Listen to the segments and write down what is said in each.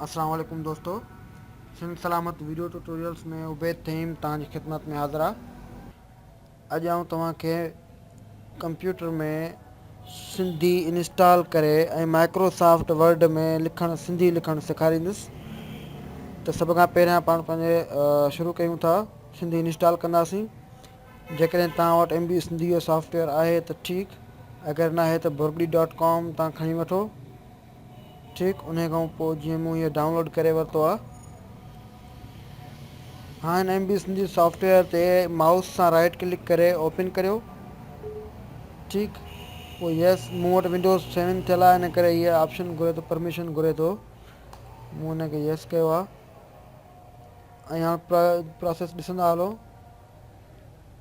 السلام عليڪم دوستو سنڌ سلامت ويڊيو ٽيوٽوريلز ۾ عبيد فھيم توھان جي خدمت ۾ حاضر آ اڄ آئون توھان کي ڪمپيوٽر ۾ سنڌي انسٽال ڪري ۽ مائڪرو سافٽ ورڊ ۾ لکڻ سنڌي لکڻ سيکاريندس ته سڀ کان پهريان پاڻ پنهنجي شروع ڪيون ٿا سنڌي انسٽال ڪنداسين جيڪڏهن توهان وٽ ايم بي سنڌي جو سافٽويئر آهي ته ٺيڪ اگر ناهي ته برگڙي ڊاٽ ڪام تان کڻي وٺو ٺيڪ انهي کان پوء جيئن مون هيء ڊائونلوڊ ڪري ورتو آ. هاڻ M B Sindhi software تي مائوس سان رائيٽ ڪلڪ ڪري اوپن ڪريو. ٺيڪ پوء يس مون وٽ ونڊوز سيون ٿيل آ ان ڪري هيء آپشن گهري ٿو پرميشن گهري ٿو مون ان کي يس ڪيو آ ۽ هاڻ پراسيس ڏسندا هلو.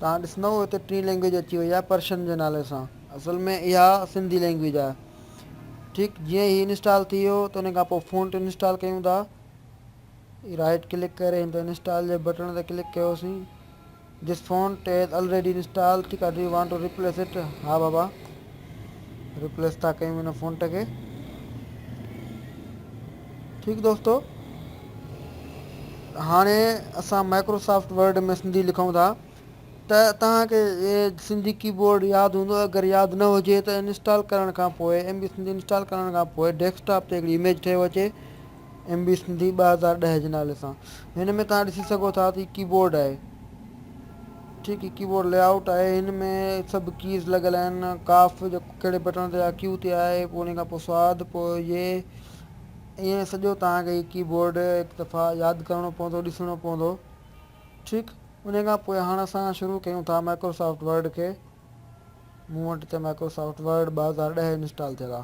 توهان ڏسندؤ هتي ٽين لينگويج اچي وئي آهي پرشن جي نالي سان اصل ۾ اها سنڌي لينگويج آهي ٺيڪ جيئن هي انسٽال ٿي ويو ته ان کان پوء فونٽ انسٽال ڪيون ٿا رائٽ ڪلڪ ڪري هن تي انسٽال جي بٽڻ تي ڪلڪ ڪيوسين This font is already installed ٺيڪ آهي Do you want to replace it ها بابا Replace ٿا ڪيون هن فونٽ کي ٺيڪ دوستو هاڻي اسان مائڪروسافٽ ورڊ ۾ سنڌي لکون ٿا ته توهان کي سنڌي ڪيبورڊ ياد هوندو اگر ياد نه هجي ته انسٽال ڪرڻ کان پوء ايم بي سنڌي انسٽال ڪرڻ کان پوء ڊيسڪٽاپ تي هڪڙي اميج ٺهيو اچي ايم بي سنڌي ٻه هزار ڏهه جي نالي سان هن ۾ توهان ڏسي سگهو ٿا ته هي ڪيبورڊ آهي ٺيڪ هي ڪيبورڊ لي آئوٽ آهي هن ۾ سڀ ڪيز لڳل آهن ڪاف جيڪو ڪهڙي بٽڻ تي آهي ڪيو تي آهي پوء ان کان پوء سواد پوء يي ائين سڄو توهان کي هي ڪيبورڊ هڪ دفعا ياد ڪرڻو پوندو ڏسڻو پوندو ٺيڪ ان کان پوء هاڻ اسان شروع ڪيون ٿا مائڪروسافٽ ورڊ کي مون وٽ ته مائڪروسافٽ ورڊ ٻه هزار ڏهه انسٽال ٿيل آ.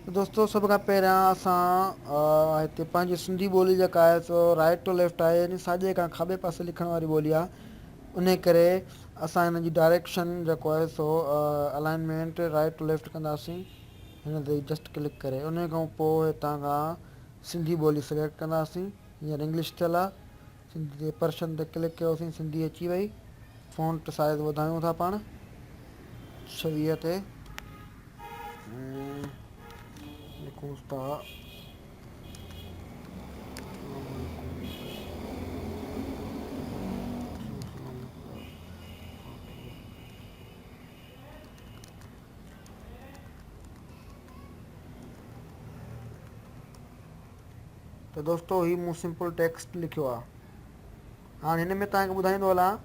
ته دوستو سڀ کان پهريان اسان هتي پنهنجي سنڌي ٻولي جيڪا آهي سو رائيٽ ٽو ليفٽ آهي يعني ساڄي کان کاٻي پاسي لکڻ واري ٻولي آ انهي ڪري اسان هن جي ڊائريڪشن جيڪو آهي سو الائنمينٽ رائيٽ ٽو ليفٽ ڪنداسين هن تي جسٽ ڪلڪ ڪري انهي کان پوء هتان کان سنڌي ٻولي سليڪٽ ڪنداسين هينئر انگلش ٿيل آ سنڌ جي پرشن تي ڪلڪ ڪيوسين سنڌي اچي وئي فونٽ سائيز وڌايون ٿا پاڻ ڇويهه تي لکون ٿا ته دوستو هي مون سمپل ٽيڪسٽ لکيو آ هاڻ هن ۾ توهان کي ٻڌائيندو هلان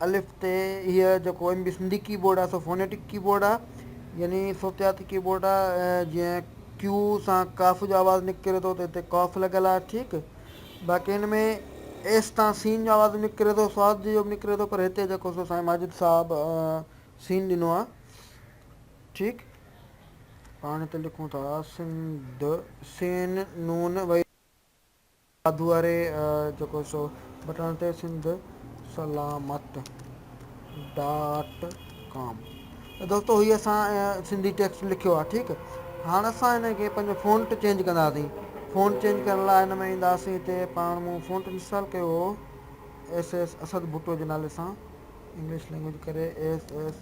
الف تي هي جيڪو M B Sindhi keyboard آ سو فونيٽڪ ڪي بورڊ آ يعني صوتياتي ڪي بورڊ آ جيئن ڪيو سان ڪاف جو آواز نڪري ٿو ته هتي ڪاف لڳل آ ٺيڪ باقي هن ۾ ايس تان سين جو آواز نڪري ٿو سواد جو به نڪري ٿو پر هتي جيڪو سو سائين ماجد صاحب سين ڏنو آ ٺيڪ پاڻ ته لکون ٿا سنڌ. سين نون وئي واڌو واري جيڪو سو بٽڻ تي سنڌ سلامت ڊاٽ ڪام ته دوستو هي اسان سنڌي ٽيڪسٽ لکيو آهي ٺيڪ هاڻ اسان هن کي پنهنجو فونٽ چينج ڪنداسين فونٽ چينج ڪرڻ لاء هن ۾ اينداسين هتي پاڻ مون فونٽ انسٽال ڪيو هو ايس ايس اسد ڀٽو جي نالي سان انگلش لينگويج ڪري ايس ايس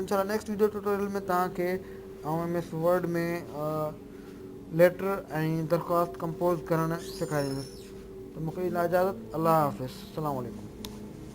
انشاء الله نيڪسٽ ويڊيو ٽيوٽوريل ۾ توهان کي آئون ايم ايس ورڊ ۾ ليٽر ۽ درخواست ڪمپوز ڪرڻ سيکاريندس ته مون کي ڏيندا اجازت الله حافظ السلام عليڪم.